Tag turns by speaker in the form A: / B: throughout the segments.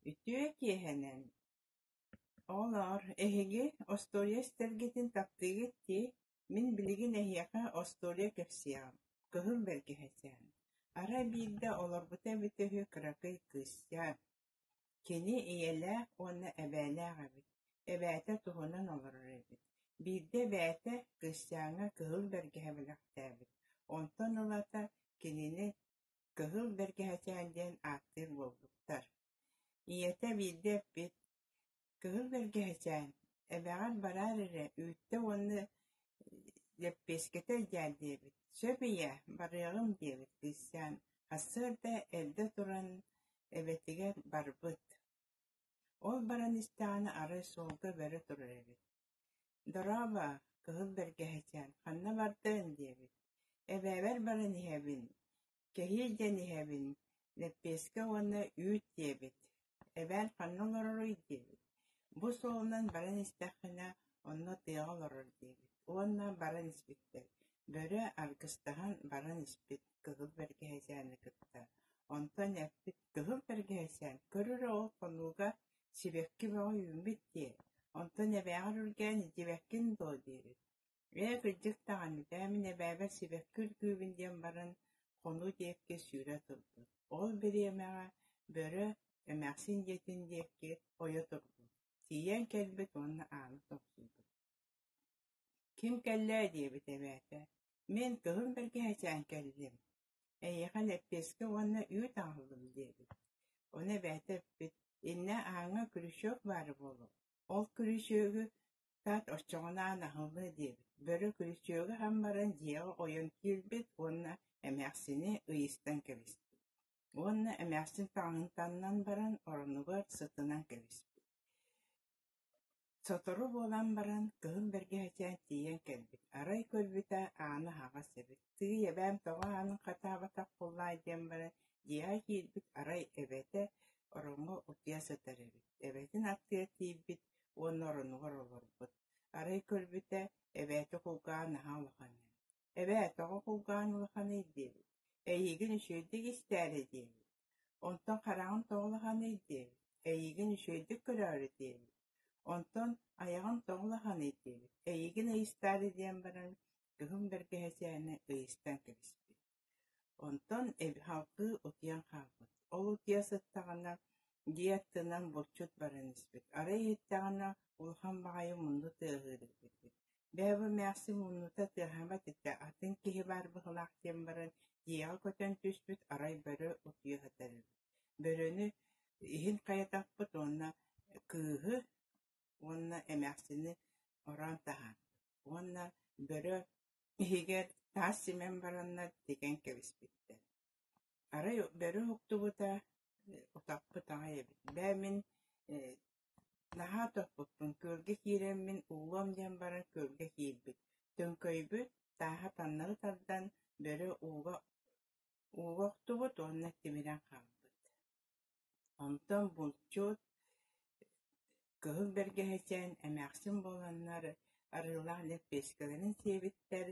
A: Үтүө киэһэнэн, ол-оор, эһиги остуоруйа истэргитин таптыыгыт дии, мин билигин эһиэхэ остуоруйа кэпсиэҕим, кыһыл бэргэһэчээн, арай биирдэ олорбута эбитэ үһү кыракый кыысчаан, кини ийэлээх уонна эбээлээх эбит, эбээтэ туһунан олорор эбит, биирдэ эбээтэ кыысчааҥҥа кыһыл бэргэһэ бэлэхтээбит, онтон ылата кинини Кыһыл бэргэһэчээн диэн ааттыыр буолбуттар. Ийэтэ биирдэ эппит, «Кыһыл бэргэһэчээн, эбэҕэр бараар эрэ, үүттэ уонна лэппиэскэтэ идьээл» диэбит. «Сөп ийээ, барыаҕым» диэбит кыысчаан сарсыарда эрдэ туран эбэтигэр барбыт. Ол баран истэҕинэ арай суолга бөрө турар эбит Дорообо, кыһыл бэргэһэчээн, ханна бардыҥ? диэбит. Эбээбэр баран иһэбин, кэһии диэн иһэбин, лэппиэскэ уонна үүт диэбит. Эбээн ханна олороруй диэбит. Бу суолунан баран истэххинэ, онно тыаҕа олорор диэбит. Уонна баран испиттэр. Бөрө аргыстаһан баран испит кыһыл бэргэһэчээни кытта. Онтон эппит, кыһыл бэргэһэчээн, көрөр оҕо хонууга Сибэкки бөҕө үүммүт дии, онтон эбээҕэр үргээн итибэккин дуо диэбит, «Ээ, кырдьык даҕаны, даа мин эбээбэр сибэкки үргүүбүн» диэн баран, хонуу диэкки сүүрэ турбут, ол бириэмэҕэ бөрө эмээхсин дьиэтин диэкки ойо турбут, тиийэн кэлбит уонна ааны тохсуйбут «Ким кэллээ?» диэбит эбээтэ, «Мин кыһын бэргэһэчээн кэллим» Эйиэхэ лэппиэскэ уонна үүт аҕаллым диэбит. Ону эбээтэ эппит, «Иннэ ааҥҥа крючок баара буолуо, ол крючогу тат оччоҕунаан аһыллыа» диэбит. Бөрө крючогу аһан баран дьиэҕэ ойон киирбит уонна эмээхсини ыйыстан кэбиспит. Уонна эмээхсин таҥаһын таннан баран оронугар сытынан кэбиспит Сотору буолан баран кыһын бэргэһэтэ тиийэн кэлбит, арай көрбүтэ ааны аһаҕас эбит, «Тыый, эбээм тоҕо аанын хатаабатах буоллаай?» диэн баран дьиэҕэ киирбит, арай эбэтэ ороҥҥо утуйа сытар эбит, эбэтин аттыгар тиийбит уонна оронугар олорбут, арай көрбүтэ эбээтэ кулгаан аһа улахан эбит Эбээтэҕэ кулгаан улаханый диэбит, эйиигин үчүгэйдик истээри диэбит, онтон хараҕын тоҕулаханый диэбит, эйиигин үчүгэйдик көрөөрү диэбит, онтон айаҕын тоҕулаханый диэбит, эйиигин ыйыстаары диэн баран кыһын бэргэһэсээнэ ыйыстан кэбиспит. Онтон халкыы утуйан хаалбыт. Ол утуйа сыттаҕына дьиэ аттынан булчут баран испит. Арай иһиттэҕинэ улахан баҕайы мунну тыаһыыр эбит. Бээ, бу эмээхсин муннута тыаһамат этэ, атын киһи баар быһылаах диэн баран, дьиэҕэ көтөн түспүт арай бөрө утуйа сытар эбит. Бөрөнү иһин хайатахпыт уонна кыыһы уонна эмээхсини ороон таһааппыт уонна бөрө иһигэр таас симэн бараннар тигэн кэбиспиттэр. Арай бөрө уһуктубута, утахпыт аҕай эбит. Бээ, мин Наһаа тохпуппун, күөлгэ киирэммин уолуом диэн баран күөлгэ киирбит, төҥкөйбүт, тааһа таннары тардан, бөрө ууга ууга охтубут уонна тимирэн хаалбыт. Онтон булчут кыһыл бэргэһэчээн эмээхсин буоланнар арыылаах лэппиэскэлэрин сиэбиттэр,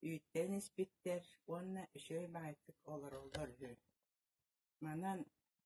A: үүттэрин испиттэр уонна үчүгэй баһыйтык олороллор үһү. Манан